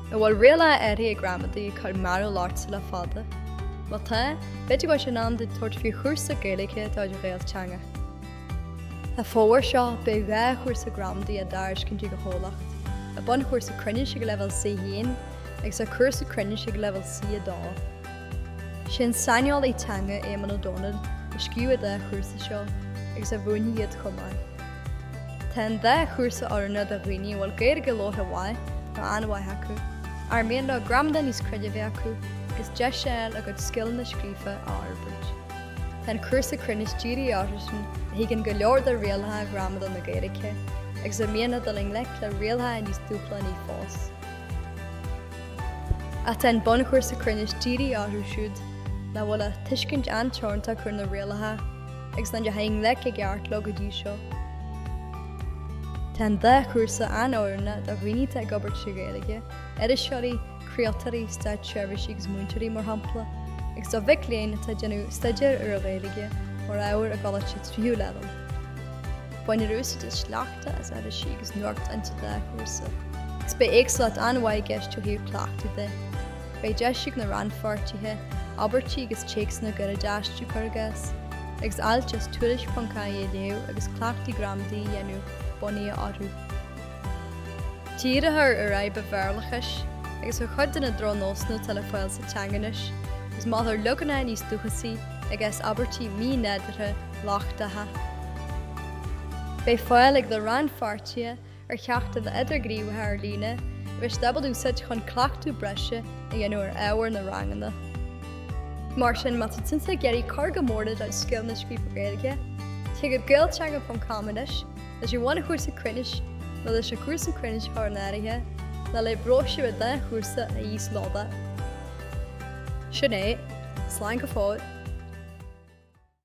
An bhfuil rialacha áirithe gramadaí ag cur mearbhall ort le fada? Má tá, b'fhéidir go bhfuil sé in am duit tabhairt faoi chúrsa Gaeilge de chuid Gaelteanga. An fómhar seo, beidh dhá chúrsa gramadaí á dtairiscint ag an chomhlacht, an bunchúrsa cruinnis ag leibhéal C1 agus an cúrsa cruinnis ag leibhéal C2. Is é an saineolaí teanga Éamonn Ó Dónaill a scríobh an dá chúrsa seo agus a mhúinfidh iad chomh maith. Tá an dá chúrsa oiriúnach do dhaoine a bhfuil Gaeilge labhartha mhaith nó an-mhaith acu, ar mian leo gramadach níos cruinne a bheith acu agus deis a fháil a gcuid scileanna scríofa a fhorbairt. Tá an cúrsa cruinnis dírithe orthusan a thuigeann go leor de rialacha gramadaí na Gaeilge agus ar mian leo dul i ngleic le rialacha níos dúshlánaí fós. Tá an bunchúrsa cruinnis dírithe orthu siúd nach bhfuil ach tuiscint an-teoranta acu ar na rialacha agus nach ndeachaigh i ngleic i gceart leo go dtí seo. Tá an dá chúrsa an-oiriúnach do dhaoine atá ag obair trí Ghaeilge, iriseoirí, craoltóirí, státseirbhísigh agus múinteoirí mar shampla, agus do mhic léinn atá ag déanamh staidéir ar an Ghaeilge mar ábhar i gColáiste Tríú Leibhéal. Bainfear úsáid as sleachta, as irisí agus nuachtáin sa dá chúrsa. Is beidh éagsúlacht an-mhaith i gceist ó thaobh cleachtaí de. Beidh deis ag na rannpháirtithe abairtí agus téacsanna gairide a aistriú, cur i gcás, agus ailt as tuairisc.ie a léamh agus cleachtaí gramadaí a dhéanamh bunaithe orthu. Díreofar ar fhadhb an Bhéarlachais agus ar chuid de na drochnósanna atá le fáil sa teanga anois agus molfar leaganacha níos dúchasaí i gcás abairtí mínádúrtha lochtacha. Beidh fáil ag na rannpháirtithe ar cheachtanna idirghníomhacha ar líne a thig leo a úsáid chun cleachtadh breise a dhéanamh ar ábhar na ranganna. Mar sin, má tá tú anois ag iarraidh cur go mór le do scileanna scríofa Gaeilge, téigh go gaelteanga.com anois leis an bhunchúrsa cruinnis nó leis an chúrsa cruinnis a chur in áirithe nó le bróisiúr an dá chúrsa a íoslódáil. Sin é. Slán go fóill.